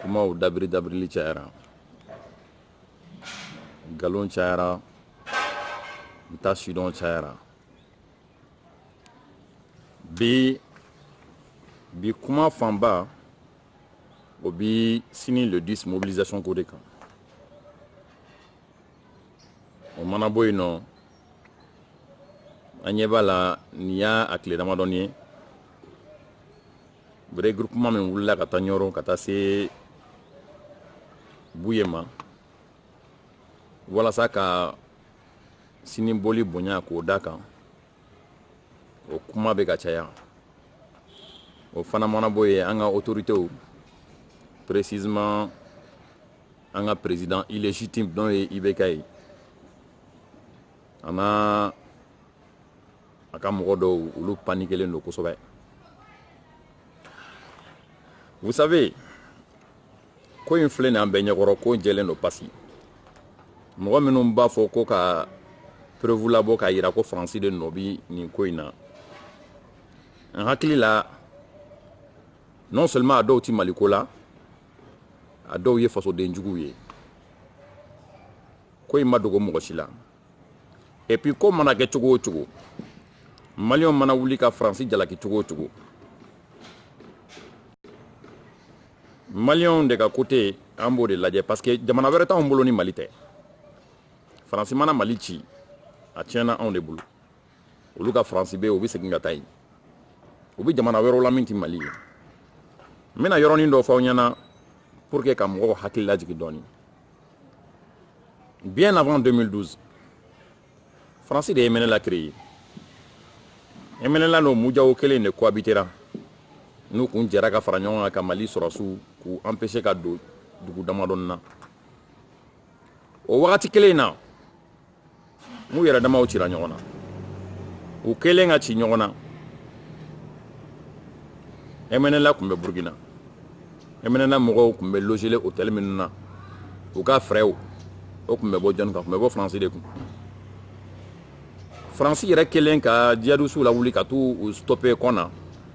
kumaw dabiri dabirili cayara nkalon cayara n t'a sidɔn cayara bi bi kuma fanba o bi sini le 10 mobilisation ko de kan o mana bɔ yen nɔ an ɲɛ b'a la nin y'a a tile damadɔni ye regroupement min wulila ka taa ɲɔrɔn ka taa se buye ma walasa ka sini bɔli bonya k'o da kan o kuma bɛ ka caya o fana mana bɔ yen an ka autoritew précisément an ka président illégitime n'o ye ibk ye an'a a ka mɔgɔ dɔw olu panikelen don kosɛbɛ vous savez ko in filɛ nin an bɛɛ ɲɛkɔrɔ ko jɛlen don pasi mɔgɔ minnu b'a fɔ ko ka preuve labɔ k'a yira ko faransi de nɔ bi nin ko in na n hakili la non seulement a dɔw ti maliko la a dɔw ye fasoden juguw ye ko in ma dogo mɔgɔ si la et puis ko mana kɛ cogo o cogo maliyɛnw mana wuli ka faransi jalaki cogo o cogo maliyɛnw de ka côté an b'o de lajɛ parce que jamana wɛrɛ t'anw bolo ni mali tɛ faransi mana mali ci a tiɲɛna anw de bolo olu ka faransi be u be segin ka taa yen u be jamana wɛrɛw la min ti mali ye n bena yɔrɔnin dɔ fɔ aw ɲɛna pour que ka mɔgɔw hakili lajigi dɔɔni Bien avant 2012, Fransi de ye MNLA créé. MNLA ni MUJAO kelen de cohabitera n'u kun jɛra ka fara ɲɔgɔn kan ka Mali sɔrɔsiw k'u empêcher ka don dugu damadɔni na. O wagati kelen in na n'u yɛrɛ damaw cira ɲɔgɔn na u kɛlen ka ci ɲɔgɔn na MNLA tun bɛ burukina MNLA mɔgɔw tun bɛ logelen hôtel minnu na u ka frais o tun bɛ bɔ jɔni kun tun bɛ bɔ faransi de kun faransi yɛrɛ kɛlen ka jihadisiw lawuli ka t'u stoppe kɔna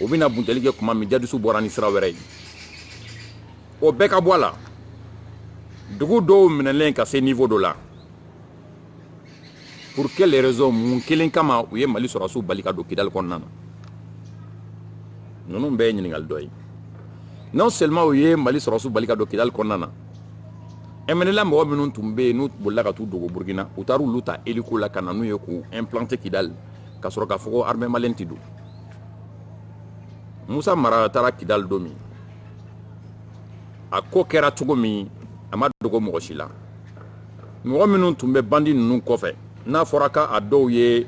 o bɛna buntɛli kɛ kuma min jihadisiw bɔra ni sira wɛrɛ ye o bɛɛ ka bɔ a la dugu dɔw minɛlen ka se niveau dɔ la pour quelle raison mun kelen kama u ye mali sɔrɔsiw bali ka don kidali kɔnɔna na ninnu bɛɛ ye ɲininkali dɔ ye non seulement u ye mali sɔrɔsiw bali ka don kidali kɔnɔna na MNLA mɔgɔ minnu tun bɛ yen n'u bolila ka t'u dogo burukina u taara olu ta hélico la ka na n'u ye k'u implanter kidali ka sɔrɔ k'a fɔ ko armée malienne tɛ don musa mara taara kidali don min a ko kɛra cogo min a ma dogo mɔgɔ si la mɔgɔ minnu tun bɛ bandi ninnu kɔfɛ n'a fɔra k'a dɔw ye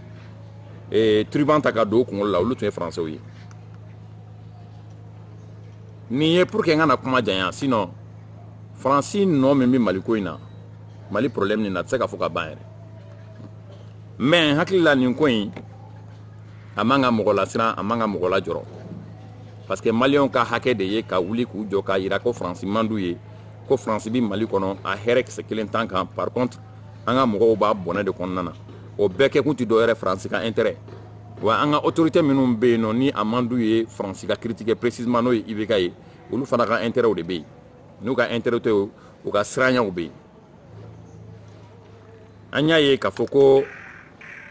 eh, turban ta ka don u kunkolo la olu tun ye faransɛw ye nin ye pour que n kana kuma janya sinon faransi nɔ min bɛ maliko in na mali problème nin na a tɛ se ka fɔ ka ban yɛrɛ mais n hakili la nin ko in a man ka mɔgɔ lasiran a man ka mɔgɔ lajɔrɔ parce que maliyɛnw ka hakɛ de ye ka wuli k'u jɔ k'a yira ko faransi man d'u ye ko faransi bi mali kɔnɔ a hɛrɛ kisɛ kelen t'an kan par contre an ka mɔgɔw b'a bɔnɛ de kɔnɔna na o bɛɛ kɛkun tɛ dɔwɛrɛ faransi ka intérêt wa an ka autorité minnu bɛ yen nɔ ni a man d'u ye faransi ka critiquer précisément n'o ye ibk ye olu fana ka intérêtw de bɛ yen n'u ka intérêt tɛ u ka siranyaw bɛ yen an y'a ye k'a fɔ ko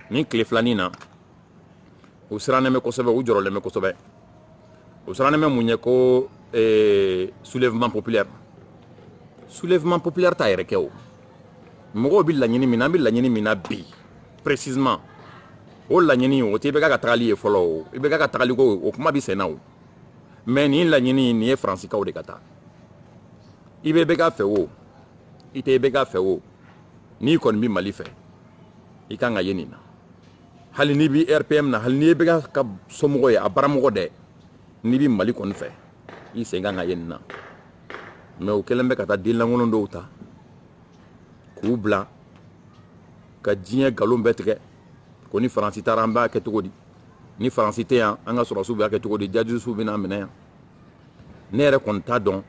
nin tile filanin na u sirannen bɛ kosɛbɛ u jɔrɔlen bɛ kosɛbɛ u sirannen bɛ mun ye ko eh, soulèvement populaire soulèvement populaire t'a yɛrɛ kɛ o mɔgɔw bɛ laɲini min na an bɛ laɲini min na bi précisément o laɲini o tɛ ibk ka tagali ye fɔlɔ o ibk ka tagali ko o kuma bɛ sen na o mais nin laɲini nin ye faransikaw de ka taa i bɛ ibk fɛ o i tɛ ibk fɛ o n'i kɔni bɛ mali fɛ i kan ka ye nin na hali n'i bɛ rpm na hali n'i ye ibk ka somɔgɔ ye a baramɔgɔ dɛ n'i bɛ mali kɔni fɛ i sen kan ka ye nin na mais u kɛlen bɛ ka taa denlankolon dɔw ta k'u bila ka diɲɛ nkalon bɛɛ tigɛ ko ni faransi taara an b'a kɛ cogo di ni faransi tɛ yan an ka sɔrɔsiw b'a kɛ cogo di djihadistew bɛna minɛ yan ne yɛrɛ kɔni t'a dɔn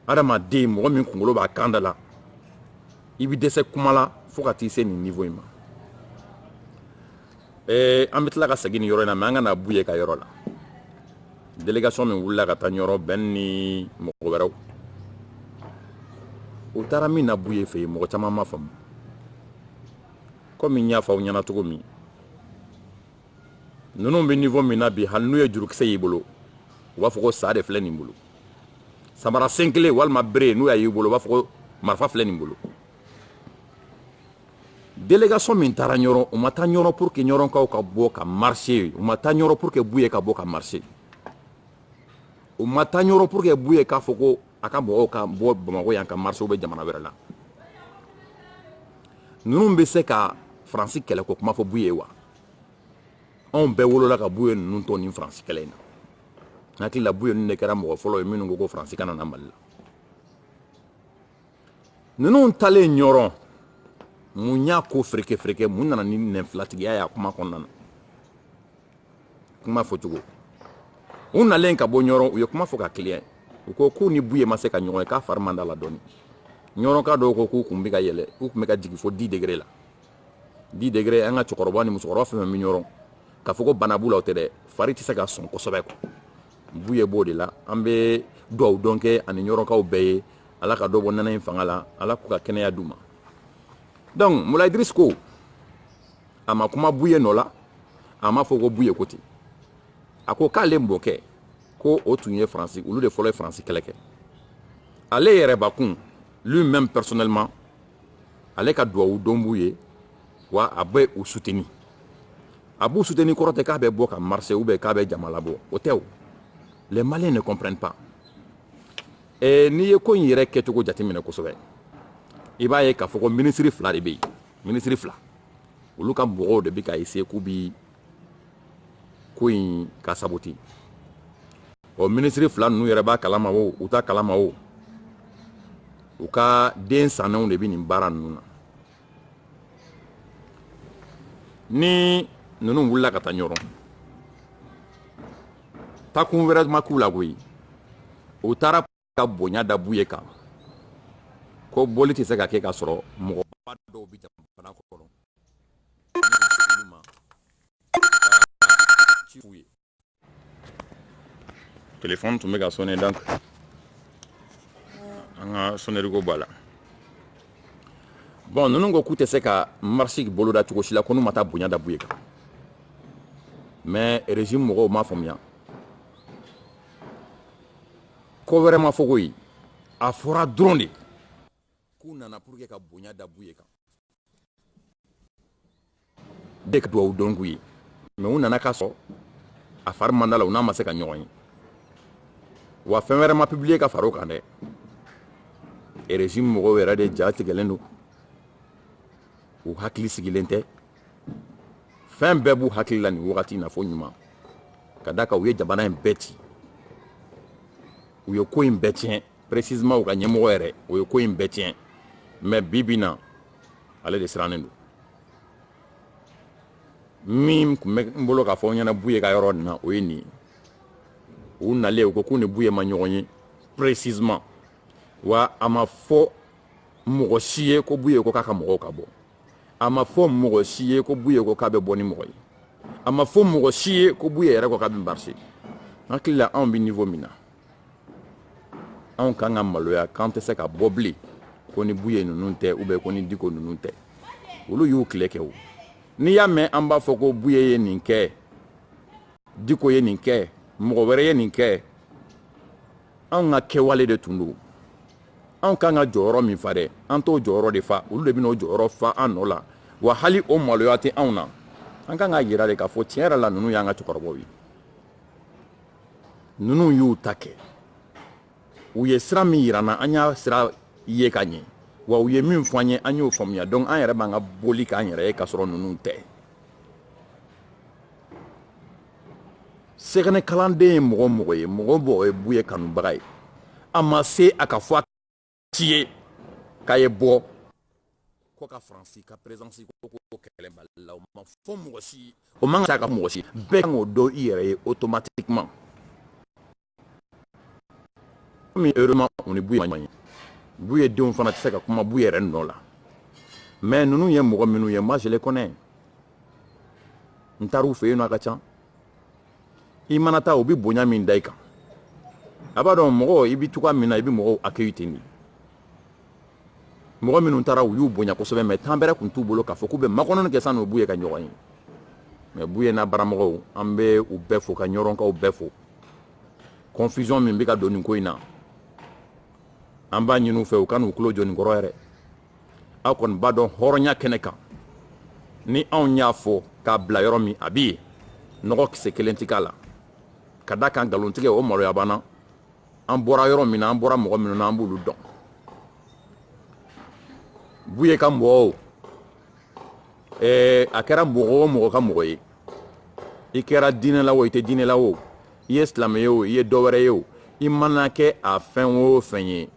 adamaden mɔgɔ min kunkolo b'a kan da la i bɛ dɛsɛ kuma la fo ka t'i se nin niveau in ma ɛɛ an bɛ tila ka segin nin yɔrɔ in na mais an ka na buye ka yɔrɔ la délégation min wulila ka taa ɲɔrɔ ben ni mɔgɔ wɛrɛw u taara min na buye fɛ yen mɔgɔ caman ma faamu komi n y'a fɔ aw ɲɛna cogo min ninnu bɛ niveau min na bi hali n'u ye jurukisɛ y'i bolo u b'a fɔ ko sa de filɛ nin bolo samara sen kelen walima bere n'u y'a y'i bolo u b'a fɔ ko marifa filɛ nin bolo délégation min taara ɲɔrɔn u ma taa ɲɔrɔn pour que ɲɔrɔnkaw ka bɔ ka marcher u ma taa ɲɔrɔn pour que buye ka bɔ ka marcher u ma taa ɲɔrɔn pour que buye k'a fɔ ko a ka mɔgɔw ka bɔ bamakɔ yan ka marcher u bɛ jamana wɛrɛ la ninnu bɛ se ka faransi kɛlɛ ko kuma fɔ buye wa anw bɛɛ wolola ka buye ninnu to nin faransi kɛlɛ in na n hakili la buye ninnu de kɛra mɔgɔ fɔlɔ ye minnu ko ko faransi kana na mali la ninnu talen ɲɔrɔn mun y'a ko fereke fereke mun nana ni nɛnfilatigiya y'a kuma kɔnɔna na kuma fɔcogo u nalen ka bɔ ɲɔrɔn u ye kuma fɔ ka kiliya u ko k'u ni buye ma se ka ɲɔgɔn ye k'a fari man da la dɔɔni ɲɔrɔnka dɔw ko k'u kun bɛ ka yɛlɛ u kun bɛ ka jigin fo dix degrés la dix degrés an ka cɛkɔrɔba ni musokɔrɔba fɛn fɛn bɛ ɲɔrɔn k'a fɔ ko bana b'u la o tɛ dɛ fari tɛ se ka sɔn kosɛbɛ quoi buye b'o de la an bɛ duwawu don kɛ a ni ɲɔrɔnkaw bɛɛ ye ala ka dɔ bɔ nɛnɛ in fanga la ala k'u ka kɛnɛya d'u ma donc moulaye idriss ko a ma kuma buye nɔ la a m'a fɔ ko buye ko ten a ko k'ale mɔkɛ ko o tun ye faransi olu de fɔlɔ ye faransi kɛlɛ kɛ ale yɛrɛbakun lui-même personnellement ale ka duwawu don b'u ye wa a bɛ u soutenir a b'u soutenir kɔrɔ tɛ k'a bɛ bɔ ka marcher ou bien k'a bɛ jama labɔ o tɛ o les maliens ne comprennent pas eh, n'i ye ko in yɛrɛ kɛcogo jateminɛ kosɛbɛ i b'a ye k'a fɔ ko minisiri fila de bɛ yen minisiri fila olu ka mɔgɔw de bɛ ka essayer k'u bi ko in ka saboter ɔ minisiri fila ninnu yɛrɛ b'a kalama o u t'a kalama o u ka den sannenw de bɛ nin baara ninnu na ni ninnu wulila ka taa ɲɔrɔn takun wɛrɛ ma k'u la koyi u taara ka bonya da buye kan ko bɔli tɛ se ka kɛ ka sɔrɔ mɔgɔba dɔw bɛ jamana kɔnɔ olu ma ci f'u ye telefɔni tun bɛ ka sonner donc an ka sonnerie ko b'a la bon ninnu ko k'u tɛ se ka marche boloda cogo si la ko n'u ma taa bonya da buye kan mais régime mɔgɔw m'a faamuya ko wɛrɛ ma fɔ koyi a fɔra dɔrɔn de k'u nana pour que ka bonya da buye kan de ka duwawu don k'u ye mais u nana ka sɔrɔ a fari man da la u n'a ma se ka ɲɔgɔn ye wa fɛn wɛrɛ ma publier ka fara o kan dɛ régime mɔgɔw yɛrɛ de ja tigɛlen don u hakili sigilen tɛ fɛn bɛɛ b'u hakili la nin wagati in na fo ɲuman ka da kan u ye jamana in bɛɛ ci u ye ko in bɛɛ tiɲɛ précisément u ka ɲɛmɔgɔ yɛrɛ u ye ko in bɛɛ tiɲɛ mais bi bi na ale de sirannen don min tun bɛ n bolo k'a fɔ ɲɛna buye ka yɔrɔ nin na o ye nin ye u nalen u ko k'u ni buye ma ɲɔgɔn ye précisément wa a ma fɔ mɔgɔ si ye ko buye ko k'a ka mɔgɔw ka bɔ a ma fɔ mɔgɔ si ye ko buye ko k'a bɛ bɔ ni mɔgɔ ye a ma fɔ mɔgɔ si ye ko buye yɛrɛ ko k'a bɛ marcher n hakili la anw bɛ niveau min na anw kan ka maloya k'an tɛ se ka bɔ bilen ko ni buye ninnu tɛ ou bien ko ni diko ninnu tɛ olu y'u tile kɛ o n'i y'a mɛn an b'a fɔ ko buye ye nin kɛ diko ye nin kɛ mɔgɔ wɛrɛ ye nin kɛ anw ka kɛwale de tun don anw kan ka jɔyɔrɔ min fa dɛ an t'o jɔyɔrɔ de fa olu de bɛn'o jɔyɔrɔ fa an nɔ la wa hali o maloya tɛ anw na an kan k'a yira de k'a fɔ tiɲɛ yɛrɛ la ninnu y'an ka cɛkɔrɔbaw ye ninnu y'u ta kɛ u ye sira min yira an na an y'a sira ye ka ɲɛ wa u ye min fɔ an ye an y'o faamuya donc an yɛrɛ b'an ka boli k'an yɛrɛ ye k'a sɔrɔ ninnu tɛ sɛgɛnɛ kalanden ye mɔgɔ o mɔgɔ ye mɔgɔ o mɔgɔ ye buye kanubaga ye a ma se a ka fɔ a si ye k'a ye bɔ ko ka faransi ka présence ko ko kɛlɛ mali la o ma fɔ mɔgɔ si o man kan ka mɔgɔ si bɛɛ kan k'o dɔn i yɛrɛ ye automatiquement mais heureusement o ni buye man ye buye denw fana tɛ se ka kuma buye yɛrɛ nɔ la mais ninnu ye mɔgɔ minnu ye moi je les connais n taar'u fɛ yen nɔ a ka ca i mana taa u bɛ bonya min da i kan a b'a dɔn mɔgɔ i bɛ cogoya min na i bɛ mɔgɔw accueillir ten de mɔgɔ minnu taara u y'u bonya kosɛbɛ mais temps bɛrɛ tun t'u bolo k'a fɔ k'u bɛ makɔnɔni kɛ san'u buye ka ɲɔgɔn ye mais buye n'a baramɔgɔw an bɛ u bɛɛ fo ka ɲɔrɔnkaw bɛɛ fo confusion min bɛ ka don nin ko in na an b'a ɲini u fɛ u kan'u tulo jɔ nin kɔrɔ yɛrɛ aw kɔni b'a dɔn hɔrɔnya kɛnɛ kan ni anw y'a fɔ k'a bila yɔrɔ min a bɛ yen nɔgɔ kisɛ kelen tɛ k'a la ka d'a kan nkalontigɛ o maloya banna an bɔra yɔrɔ min na an bɔra mɔgɔ minnu na an b'olu dɔn buye ka mɔgɔw ɛɛ a kɛra mɔgɔ o mɔgɔ ka mɔgɔ ye i kɛra diinɛ la o i tɛ diinɛ la o i ye silamɛ ye o i ye dɔ wɛrɛ ye o i mana kɛ a fɛn o fɛn ye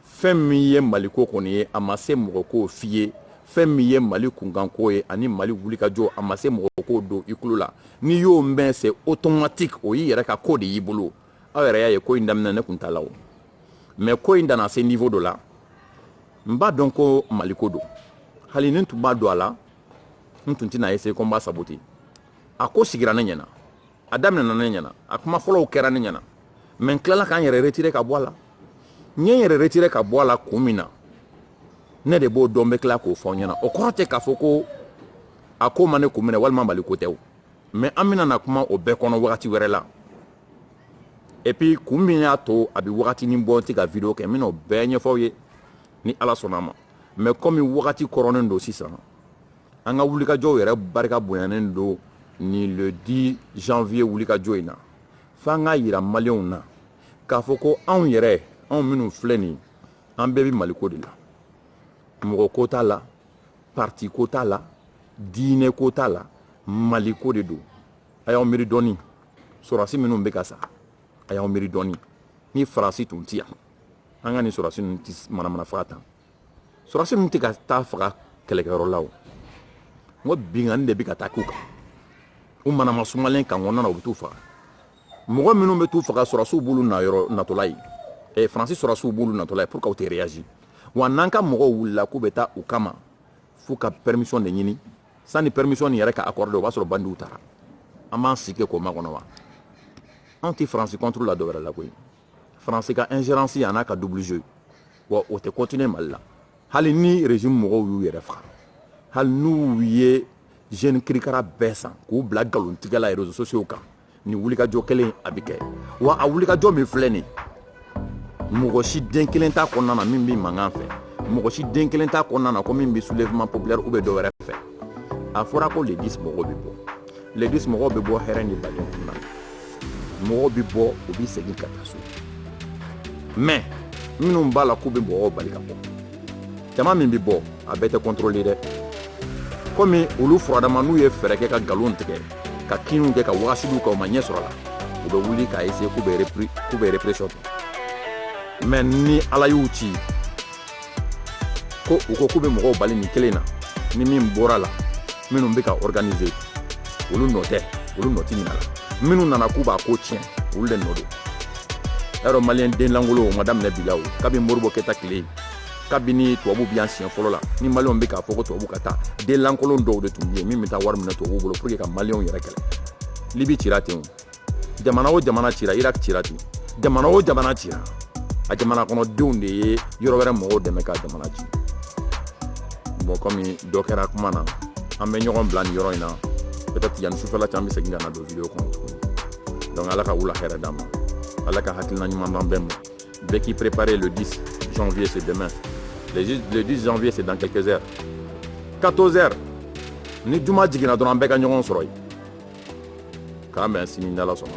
fɛn min ye maliko kɔni ye a ma se mɔgɔ k'o f'i ye fɛn min ye mali kunkanko ye ani mali wulikajɔ a ma se mɔgɔ k'o don i tulo la n'i y'o mɛn c'est automatique o y'i yɛrɛ ka ko de y'i bolo aw yɛrɛ y'a ye ko in daminɛ ne tun t'a la o mais ko in nana se niveau dɔ la n b'a dɔn ko maliko don hali ni n tun ma don a la n tun tɛna essayer ko n b'a saboter a ko sigira ne ɲɛna a daminɛna ne ɲɛna a kuma fɔlɔw kɛra ne ɲɛna mais n tilala ka n yɛrɛ retirer ka bɔ a la n ye n yɛrɛ retirer ka bɔ a la kun min na ne de b'o dɔn n bɛ tila k'o fɔ n ɲɛna o kɔrɔ tɛ k'a fɔ ko a ko ma ne kun minɛ walima maliko tɛ o mais an bɛna na kuma o bɛɛ kɔnɔ wagati wɛrɛ la et puis kun min y'a to a bɛ wagatinin bɔ n tɛ ka video kɛ n bɛn'o bɛɛ ɲɛfɔ aw ye ni ala sɔnna a ma mais kɔmi wagati kɔrɔnen don sisan an ka wulikajɔw yɛrɛ barika bonyanen don ni le 10 janvier wulikajɔ in na f'an k'a yira maliyɛnw na k'a fɔ ko anw yɛrɛ anw minnu filɛ nin an bɛɛ bɛ maliko de la mɔgɔ ko t'a la parti ko t'a la diinɛ ko t'a la maliko de don a y'aw miiri dɔɔni sɔrɔdasi minnu bɛ ka sa a y'aw miiri dɔɔni ni faransi tun tɛ yan an ka nin sɔrɔdasi ninnu tɛ manamana faga tan sɔrɔdasi ninnu tɛ ka taa faga kɛlɛkɛyɔrɔ la o n ko binkanni de bɛ ka taa k'u kan u manama sumalen camp kɔnɔna na u bɛ t'u faga mɔgɔ minnu bɛ t'u faga sɔrɔdasiw b'olu na yɔrɔ natɔla ye eh, faransi sɔrɔdasiw b'olu natɔla ye pourquoi u tɛ réagir wa n'an ka mɔgɔw wulila k'u bɛ taa u kama f'u ka permission de ɲini sani permission nin yɛrɛ ka accordé o b'a sɔrɔ bandiw taara an b'an sigi k'o makɔnɔ wa anw tɛ faransi contre la dɔwɛrɛ la koyi faransi ka ingérence an'a ka double jeu wa o tɛ continuer mali la hali ni régime mɔgɔw y'u yɛrɛ faga hali n'u ye jeune kirikara bɛɛ san k'u bila galontigɛ la réseaux sociaux kan nin wulikajɔ kelen a bɛ kɛ wa a wulikajɔ min filɛ nin mɔgɔ si den kelen t'a kɔnɔna na min bɛ mankan fɛ mɔgɔ si den kelen t'a kɔnɔna na ko min bɛ soulèvement populaire ou bɛ dɔ wɛrɛ fɛ a fɔra ko le 10 mɔgɔw bɛ bɔ le 10 mɔgɔw bɛ bɔ hɛrɛ ni baden kɔnɔna na mɔgɔw bɛ bɔ u bɛ segin ka taa so mais minnu b'a la k'u bɛ mɔgɔw bali ka bɔ jama min bɛ bɔ a bɛɛ tɛ contrôler dɛ komi olu furadama n'u ye fɛɛrɛ kɛ ka nkalon tigɛ ka kinniw kɛ ka wagasiliw kɛ u ma ɲɛ sɔrɔ a la u bɛ wuli k'a essayer k'u bɛ répression kɛ mais ni ala y'u ci ko u ko k'u bɛ mɔgɔw bali nin kelen na ni min bɔra a la minnu bɛ k'a organiser olu nɔ tɛ olu nɔ tɛ ɲina la minnu nana k'u b'a ko tiɲɛ olu de nɔ don y'a dɔn maliyɛn den lankolon o ma daminɛ bi la o kabini modibo keyita tile kabini tubabu bɛ yan siɲɛ fɔlɔ la ni maliyɛnw bɛ k'a fɔ ko tubabu ka taa den lankolon dɔw de tun bɛ yen min bɛ taa wari minɛ tubabuw bolo pour que ka maliyɛnw yɛrɛ kɛlɛ libi cira ten o jamana o jamana cira irak cira ten jamana o jamana cira a jamana kɔnɔdenw de ye yɔrɔ wɛrɛ mɔgɔw dɛmɛ ka jamana ci bon kɔmi dɔ kɛra kuma na an bɛ ɲɔgɔn bila nin yɔrɔ in na peut-être yanni sufɛla cɛ an bɛ segin ka na don video kɔnɔ tuguni donc ala ka wula hɛrɛ d'an ma ala ka hakilina ɲuman d'an bɛɛ ma Bɛɛ k'i préparer le 10 janvier, c'est demain. Le 10 janvier, c'est dans quelques heures. 14 heures. Ni juma jiginna dɔrɔn an bɛɛ ka ɲɔgɔn sɔrɔ yen k'an bɛn sini n'ala sɔnna